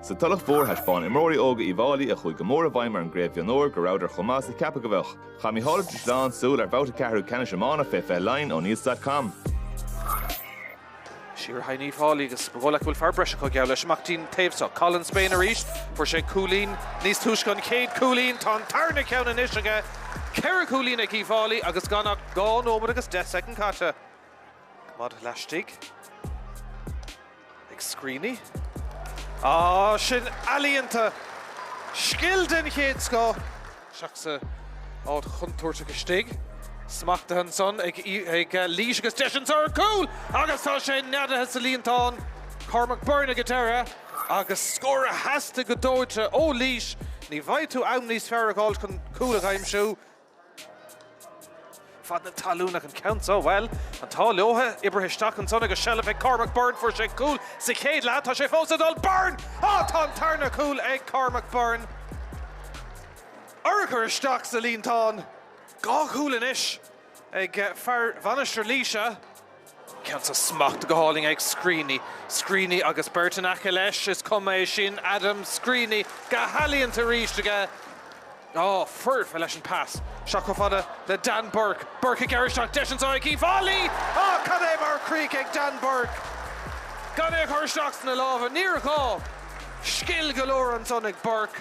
Sa Tulach Mhór thaispeáin imreoirí óga Uíbh Fhailí a chuaigh go mór i bhfeidhm ar an gcraobh mhionúir go rabhadar chomh maith is a ceapadh go bheadh. Chaith Micheál Ó Drisleáin súil ar bhabhta ceathrú ceannais iomána fé 20 Laighin ó Newsdotcom. Siar thar Uíbh Fhailí agus ba dhóigh leat go bhfuil fear breise acu geall leis amach dtí'n taobh seo. Colin Spain arís. Fuair sé cúilín níos túisce an chéad chúilín. Tá an tarna ceann anois aige. Ceithre chúilín ag Uíbh Fhailí agus gan ach dhá nóiméad agus deich soicind caite. Maide laistigh ag Screeney. Ah sin ealaíonta! Scil den chéad scoth! Isteach sa áit chontúirteach istigh. Smachtaithe ansan ag Laois agus deis anso ar cúl! Agus tá sé neadaithe sa líontán! Cormac Byrne ag a deireadh agus scór a theastaigh go dóite ó Laois. Ní bhfaighidh tú am níos fearr a dh'fháilt chun cúl a aimsiú. fad na talún ag an ceann so. Bhuel, an t-ádh leotha, oibrithe isteach ansan agus seilbh ag Cormac Byrne. Fuair sé cúl sa chéad leath, tá sé fós ag dul. Byrne! Á! Tá an tarna cúl ag Cormac Byrne. Urchar isteach sa líontán. Dhá chúl anois ag fear Mhainistir Laoise. Ceann so smachtaithe go hálainn ag Screeney. Screeney agus beirt in aice leis, is cuma é sin, Adam Screeney, go healaíonta arís aige. Á, foirfe leis an pas. Isteach chomh fada le Dan Burke. Burke ag gearradh isteach, deis anso ag Uíbh Fhailí! Á, cad é mar chrích ag Dan Burke gan é a chur isteach sna lámha. Níor ghá! Scil go leor ansan ag Burke.